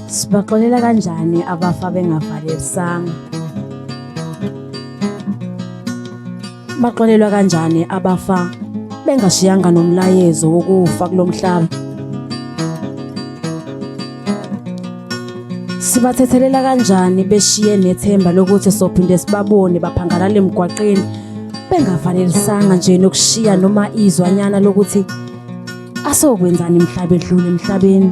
Sibaxolela kanjani abafa bengavalelisanga? Baxolelwa kanjani abafa bengashiyanga nomlayezo wokufa kulomhlaba? Sibathethelela kanjani beshiye nethemba lokuthi sophinde sibabone baphangalala emgwaqeni bengavalelisanga nje nokushiya noma izwanyana lokuthi asokwenzani mhlaba edlule emhlabeni?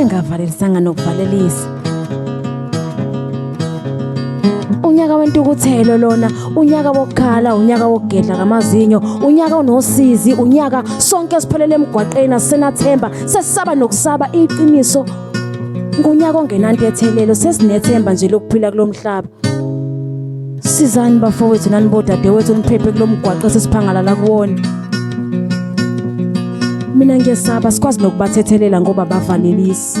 engavalelisanga nokuvalelisa unyaka wentukuthelo lona unyaka wokukhala unyaka wokugedla ngamazinyo unyaka onosizi unyaka sonke siphelele emgwaqeni asenathemba sesisaba nokusaba iqiniso ngunyaka ongenantethelelo sesinethemba nje lokuphila kulomhlaba sizani bafowethu nani bodadewethu niphephe kulo mgwaqo esesiphangalala kuwona mina ngiyesaba sikwazi nokubathethelela ngoba bavalelisi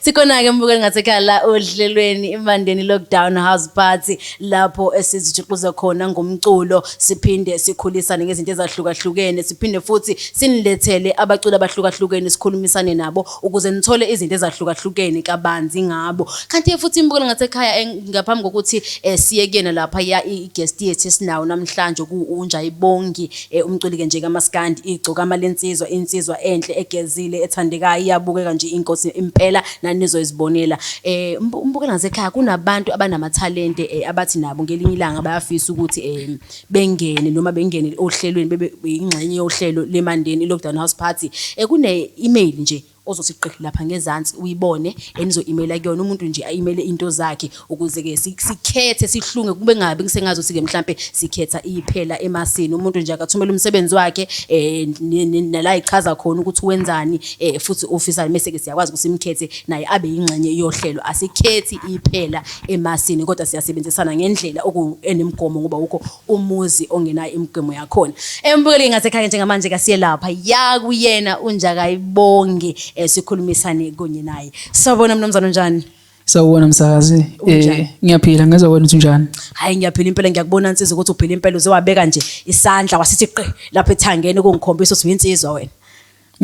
Sikhona-ke mbukeli ngasekhaya la ohlelweni iMandeni Lockdown House Party lapho esizijuxuza khona ngomculo siphinde sikhulisane ngezinto ezahlukahlukene siphinde futhi sinilethele abaculi abahlukahlukene sikhulumisane nabo ukuze nithole izinto ezahlukahlukene kabanzi ngabo kanti futhi imbukeli ngasekhaya ngaphambi kokuthi eh, siye kuyena lapha ya i-guest yethu esinawo namhlanje ku-unjayibongi Ey umculi ke nje kamaskandi igcokama lensizwa insizwa enhle egezile ethandekayo iyabukeka nje inkosi impela nani nizoyizibonela eh umbuke ngasekhaya kunabantu abanamathalente eh, abathi nabo ngelinye ilanga bayafisa ukuthi eh bengene noma bengene ohlelweni bebe ingxenye yohlelo lemandeni lockdown house party eh kune email nje ozothi qi lapha ngezansi uyibone enizo imela kuyona umuntu nje ayimele into zakhe ukuze ke sikhethe sihlunge kube ngabe ngisengazi ukuthi ke mhlambe sikhetha iphela emasini umuntu nje akathumela umsebenzi wakhe eh nala ichaza khona ukuthi wenzani eh futhi ofisa mase ke siyakwazi ukuthi simkhethe naye abe ingxenye yohlelo asikhethi iphela emasini kodwa siyasebenzisana ngendlela oku enemgomo ngoba ukho umuzi ongenayo imigwemo yakhona embukeleni ngasekhaya njengamanje kasiyelapha yakuyena unjakayibonge eh, sikhulumisane kunye naye sawubona mnumzane unjani sawubona msakazi eh ngiyaphila ngezwa wena ukuthi unjani hayi ngiyaphila impela ngiyakubona nsizwa ukuthi uphila impela uzewabeka nje isandla wasithi qe lapha ethangeni ukungikhombisa ukuthi uyinsizwa wena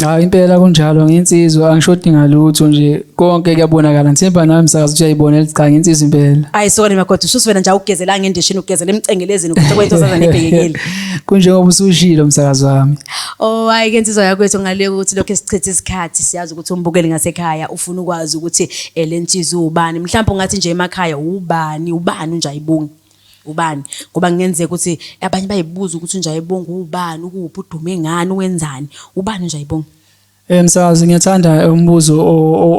Hayi impela kunjalo ngensizwa angishodi ngalutho nje konke kuyabonakala ngithemba nami msakazi ukuthi uyayibonela cha ngensizwa impela Ayi sokane magoda ushuthi wena nje awugezela ngendishini ugezela emcengelezini ukuthi kwento zaza nebhekekile. kunjengoba usushilo msakazi wami Oh hayi ke nsizwa yakwethu ngaleka ukuthi lokho esichitha isikhathi siyazi ukuthi umbukeli ngasekhaya ufuna ukwazi ukuthi eh, le nsizwa ubani mhlawumbe ungathi nje emakhaya ubani ubani unjayibungi. Ubani? Ngoba kungenzeka ukuthi abanye bayibuza ukuthi uNjayibonga uwubani, ukuphi, udume ngani, wenzani. Ubani uNjayibonga? Eh msakazi ngiyathanda umbuzo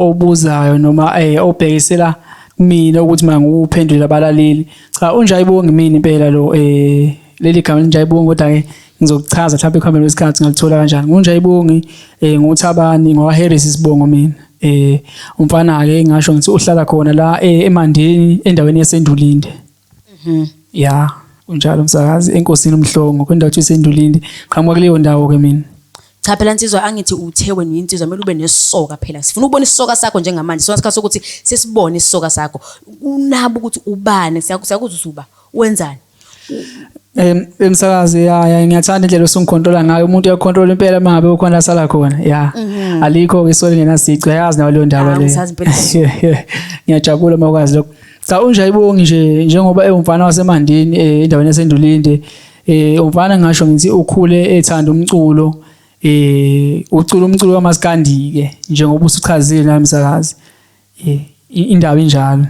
obuzayo noma eh obhekisela mina ukuthi mangiwuphendule abalaleli. Cha uNjayibonga imina impela lo eh leli gama linjayibonga kodwa ke ngizokuchaza mhlawumbe ekuhambeni kwesikhathi ngalithola kanjani. NguNjayibongi eh nguThabani ngwaHarris isibongo mina. eh umfana ake ngasho ngithi uhlala khona la eh, eMandeni endaweni yaseNdulinde mhm ya unjalo msakazi enkosini umhlongo kwendawo yaseNdulinde qhamuka kuleyo ndawo ke mina cha phela nsizwa angithi uthe wena uyinsizwa kumele ube nesoka phela sifuna ukubona isoka sakho njengamanje sona sikhathi sokuthi sesibone isoka sakho unabo ukuthi ubani siyakuzwa uba wenzani Em emsakazi ya ya ngiyathanda indlela osungikhontrola ngayo umuntu uyakhontrola impela mangabe ukhona asala khona ya mhm. alikho ke sole ngenasici uyazi nawe leyo ndaba le ngiyajabula uma ukwazi lokho cha unje ayibongi nje njengoba ewumfana wasemandini eh, endaweni yasendulinde eh umfana ngisho ngithi ukhule ethanda umculo eh ucula umculo kamaskandike njengoba usuchazile namsakazi Eh, i- indaba injalo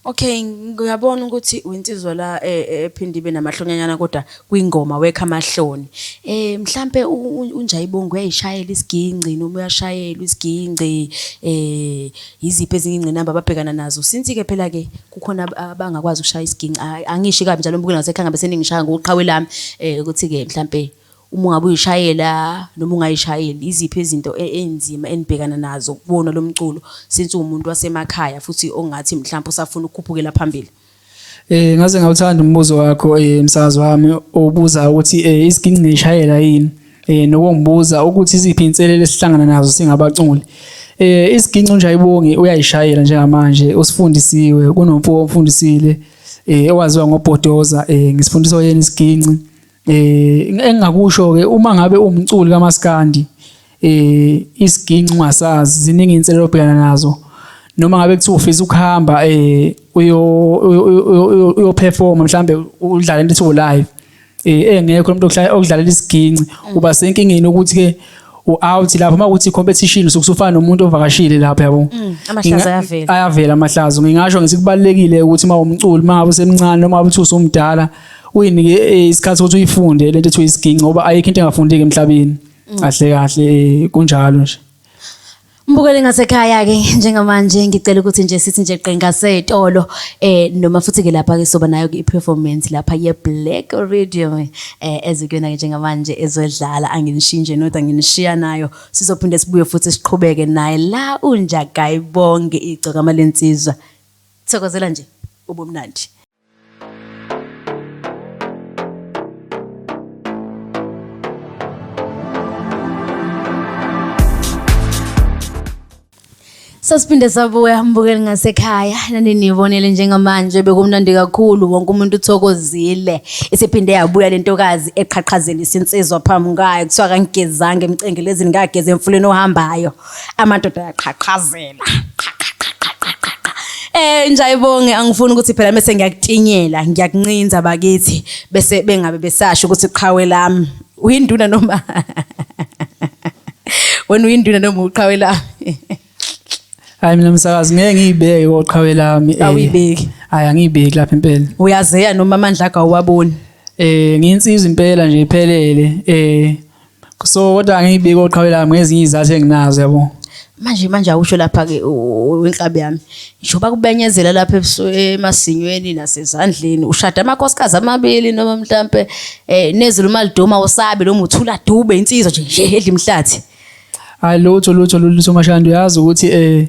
Okay, ngiyabona ukuthi uyinsizwa la eh, eh, ephinde ibe namahlonyanyana kodwa kwingoma wekha amahloni. Eh mhlambe u- u- unjayibongo uyayishayela isigingci noma uyashayelwa isigingci eh iziphi ezinye ingcinamba ababhekana nazo. Since ke phela ke kukhona ab- abangakwazi ukushaya isigingci. Ay, Angishi kabi njalo mbuke nasekhaya ngabe seningishaya ngoqhawe lami eh ukuthi ke mhlambe Uma ungabe uyishayela noma ungayishayeli, iziphi izinto e, eynzima enibhekana nazo kuwona lo mculo since uwumuntu wasemakhaya futhi ongathi mhlawumbe usafuna ukukhuphukela phambili? Eh ngaze ngawuthanda umbuzo wakho eh msakazi wami obuza ukuthi eh isiginci ngishayela yini? Eh nokungibuza ukuthi iziphi inselele esihlangana nazo singabaculi. Eh isiginci nje ayibongi uyayishayela njengamanje usifundisiwe kunomfo ofundisile eh owaziwa ngoBhodoza eh ngisifundiswa yena isiginci. eh engingakusho ke uma ngabe umculi kamaskandi eh isiginci ungasazi ziningi inselelo obhekana nazo noma ngabe kuthiwa ufisa ukuhamba eh uyo uyo perform mhlambe udlala into ethiwa live eh engekho umuntu okudlalela isiginci mm. uba senkingeni ukuthi ke u-out lapho uma kuthi competition usuke usufana nomuntu ovakashile lapho yabo mm, amahlazo ayavela ayavela amahlazo ngingasho ngithi kubalekile ukuthi uma umculi uma ngabe usemncane noma uthi usumdala uyinike eh, isikhathi ukuthi uyifunde lento ethiwa isiginci ngoba ayikho into engafundeki emhlabeni mm. kahle kahle eh, kunjalo nje Mbukeli ngasekhaya ke njengamanje ngicela ukuthi nje sithi nje qenga setolo eh noma futhi ke lapha ke soba nayo ke performance lapha ye Black Radio eh ezikuyona ke njengamanje ezodlala anginishinje not anginishiya nayo sizophinde sibuye futhi siqhubeke naye la unja guy bonke igcoka malensizwa thokozela nje ubumnandi Sasiphinde sabuya mbukeli ngasekhaya naninibonele njengamanje bekumnandi kakhulu wonke umuntu uthokozile isiphinde yabuya lentokazi eqhaqhazela isinsizwa phambi kwayo kuthiwa kangigezanga emcengelezini ngageza emfuleni ohambayo amadoda ayaqhaqhazela Eh njayibonge angifuni ukuthi phela mase ngiyakutinyela ngiyakuncinza bakithi bese bengabe besasho ukuthi qhawe lami uyinduna noma wena uyinduna noma uqhawe lami Hayi mina msakazi ngeke ngiyibeke koqhawe lami eh. awuyibeki hayi angiyibeki lapha impela uyazeya noma amandla akawaboni eh ngiyinsizwa impela nje iphelele eh so kodwa angiyibiki oqhawe lami ngezinye izathu enginazo yabo manje manje awusho lapha ke wenkabi yami njoba kubenyezela lapha emasinyweni nasezandleni ushada amakhosikazi amabili noma mhlambe eh nezulu malidoma usabe lo muthula dube insizwa nje nje edla imhlathi hayi lutho lutho lutho mashandi uyazi ukuthi eh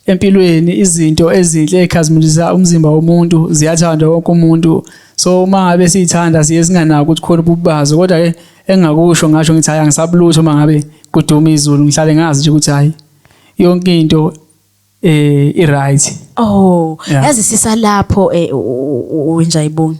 empilweni izinto ezinhle ekhazimulisa umzimba womuntu ziyathandwa wonke umuntu so uma ngabe siyithanda siye singanaki ukuthi khona ububazo kodwa ke engakusho ngasho ngithi hayi angisabulutho uma ngabe kuduma izulu ngihlale ngazi nje ukuthi hayi yonke into eh i right oh yazi sisalapho eh wenjayibongi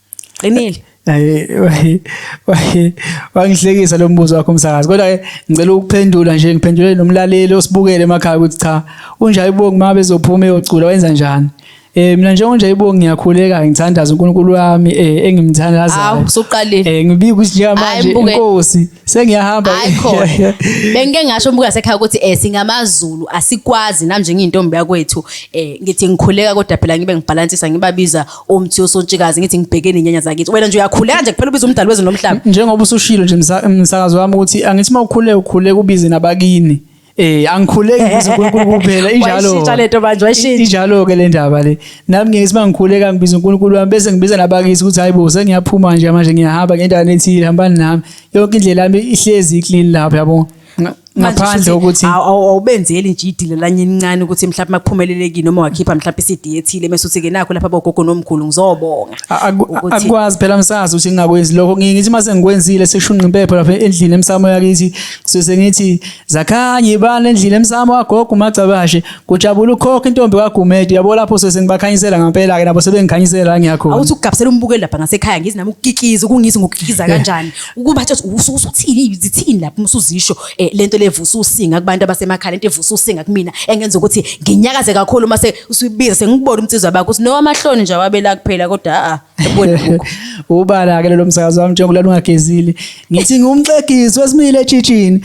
qinile wangihlekisa lo mbuzo wakho msakazi kodwa ke ngicela ukuphendula nje ngiphendule nomlaleli osibukele emakhaya ukuthi cha unjani ibongi uma bezophuma eyocula wenza njani Eh mina njengoba nje ibo ngiyakhuleka ngithandaza uNkulunkulu wami eh engimthandazayo. Awu usuqalile. Eh ngibika ukuthi njengamanje inkosi sengiyahamba. Bengike ngasho umbuka sekhaya ukuthi eh singamaZulu asikwazi namnje ngiyintombi yakwethu eh ngithi ngikhuleka kodwa phela ngibe ngibhalansisa ngibabiza umthi usontshikazi ngithi ngibheke nenyanya zakithi wena nje uyakhuleka nje kuphela ubiza umdali wezwe nomhlaba njengoba usushilo nje msakazi wami ukuthi angithi uma ukhule ukhule kubize nabakini eh angikhuleki kuze uNkulunkulu kuphela injalo wayishintsha lento manje wayishintsha injalo ke le ndaba le nami ngeke siba ngikhuleka ngibiza uNkulunkulu wami bese ngibiza nabakisi ukuthi hayibo sengiyaphuma nje manje ngiyahamba ngendawo ethile hambani nami yonke indlela yami ihlezi iclean lapha yabona ngaphandle ukuthi awubenzeli nje idile lanye elincane ukuthi mhlawumbe makuphumelelekile noma wakhipha mhlawumbe iCD ethile mase uthi ke nakho lapha bogogo nomkhulu ngizobonga akwazi phela msazi ukuthi ngingakwenzi lokho ngithi mase ngikwenzile seshunqa impepho lapha endlini emsamo yakithi sise ngithi zakhanye ibani endlini emsamo wagogo umagcabashe kujabula ukhokha intombi kaGumede yabo lapho sese ngibakhanyisela ngempela ke nabo sebengikhanyisela ngiyakhona awuthi ukugabisela umbukeli lapha ngasekhaya ngizi nami ukukikiza ukungizi ngokukikiza kanjani ukuba athi usuke usuthini zithini lapho usuzisho eh, lento levusa usinga kubantu abasemakhaya lento evusa usinga kumina engenza ukuthi nginyakaze kakhulu uma se usubiza sengibona umnsizwa bakho uthi no amahloni nje wabela kuphela kodwa a ah, ebona ubala ke lo msakazo wami njengoba lungagezile ngithi ngumxegisi wesimile ejijini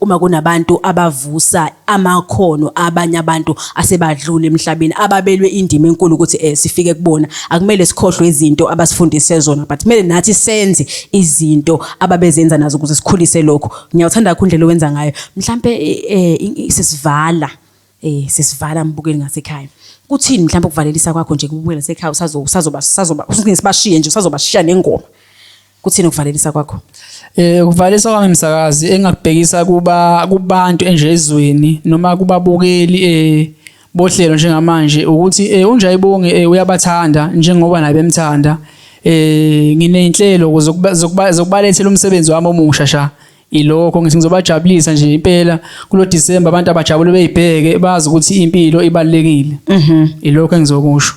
uma kunabantu abavusa amakhono abanye abantu asebadlula emhlabeni ababelwe indima enkulu ukuthi eh sifike kubona akumele sikhohlwe izinto abasifundise zona but kumele nathi senze izinto ababezenza nazo ukuze sikhulise lokho ngiyawuthanda kakhulu indlela owenza ngayo mhlambe eh, eh, sisivala eh sesivala mbukeli ngasekhaya kuthini mhlawumbe ukuvalelisa kwakho nje kubukela ngasekhaya usazo usazoba sazoba usibashiye nje usazobashiya nengoma kuthini ukuvalelisa kwakho eh ukuvalelisa kwami msakazi engakubhekisa kuba kubantu enjezweni noma kubabukeli eh bohlelo njengamanje ukuthi eh unjayibonge eh, uyabathanda njengoba naye bemthanda eh nginenhlelo zokubalethela umsebenzi wami omusha sha Ilokho ngithi ngizobajabulisa nje impela kulo December abantu abajabule beyibheke bazi ukuthi impilo ibalekile. Mhm. Ilokho engizokusho.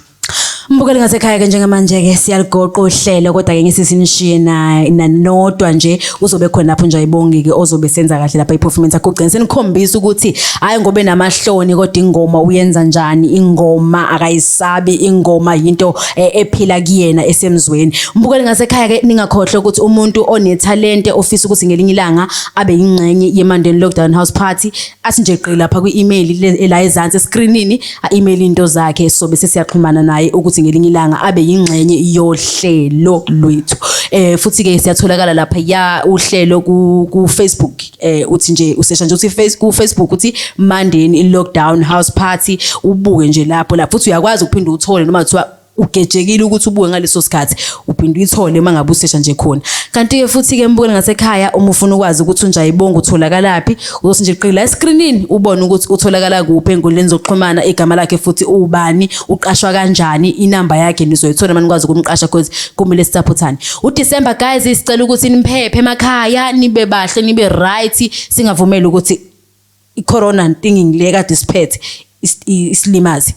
Mbukeli ngasekhaya ke njengamanje ke siyaligoqa uhlelo kodwa ke ngisisimshiye na nanodwa nje uzobe khona lapho nje ayibongi ke ozobe senza kahle lapha iperformance yakho ugcina senikhombisa ukuthi hayi ngobe namahloni kodwa ingoma uyenza njani ingoma akayiz sabi ingoma yinto eh, ephila kuyena esemzweni mbukeli ngasekhaya ke ningakhohle ukuthi umuntu onethalente ofisa ukuthi ngelinye ilanga abe ingxenye yemandeni lockdown house party asinje gqi lapha kwi-email e, la ezansi escreenini a-email into zakhe sobe sesiyaxhumana naye ukuthi ngelinye ilanga abe yingxenye yohlelo lwethu eh futhi ke siyatholakala lapha ya uhlelo ku, ku Facebook eh uthi nje usesha nje uthi face ku Facebook uthi Mandeni i lockdown house party ubuke nje lapho lapho uthi uyakwazi ukuphinda uthole noma kuthiwa ugejekile ukuthi ubuke ngaleso sikhathi uphinde uyithole uma ngabe usesha nje khona kanti ke futhi ke mbukele ngasekhaya uma ufuna ukwazi ukuthi unja ibonga utholakalaphi uzothi nje qila escreenini ubone ukuthi utholakala kuphi enkundleni zokuxhumana igama lakhe futhi ubani uqashwa kanjani inamba yakhe nizoyithola manikwazi ukumqasha because kumele sisaphothane uDecember guys sicela ukuthi niphephe emakhaya nibe bahle nibe right singavumeli ukuthi icorona ntinging le kade siphethe isilimazi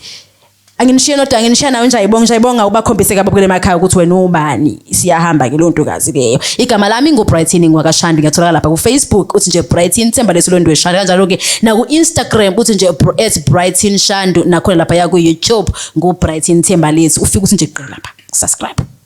anginishiye nodwa anginishiya nawe njayibonga njayibonga ubakhombise kabi kule makhaya ukuthi wena ubani siyahamba ke lo ntokazi leyo igama lami ngubrighton ngwakashandi ngiyatholakala lapha kufacebook uthi nje brighton themba lesilondwe shandi kanjalo ke naku-instagram uthi nje at brighton shandu nakhona lapha yakuyoutube ngubrighton themba lethu ufike uthi nje qela lapha subscribe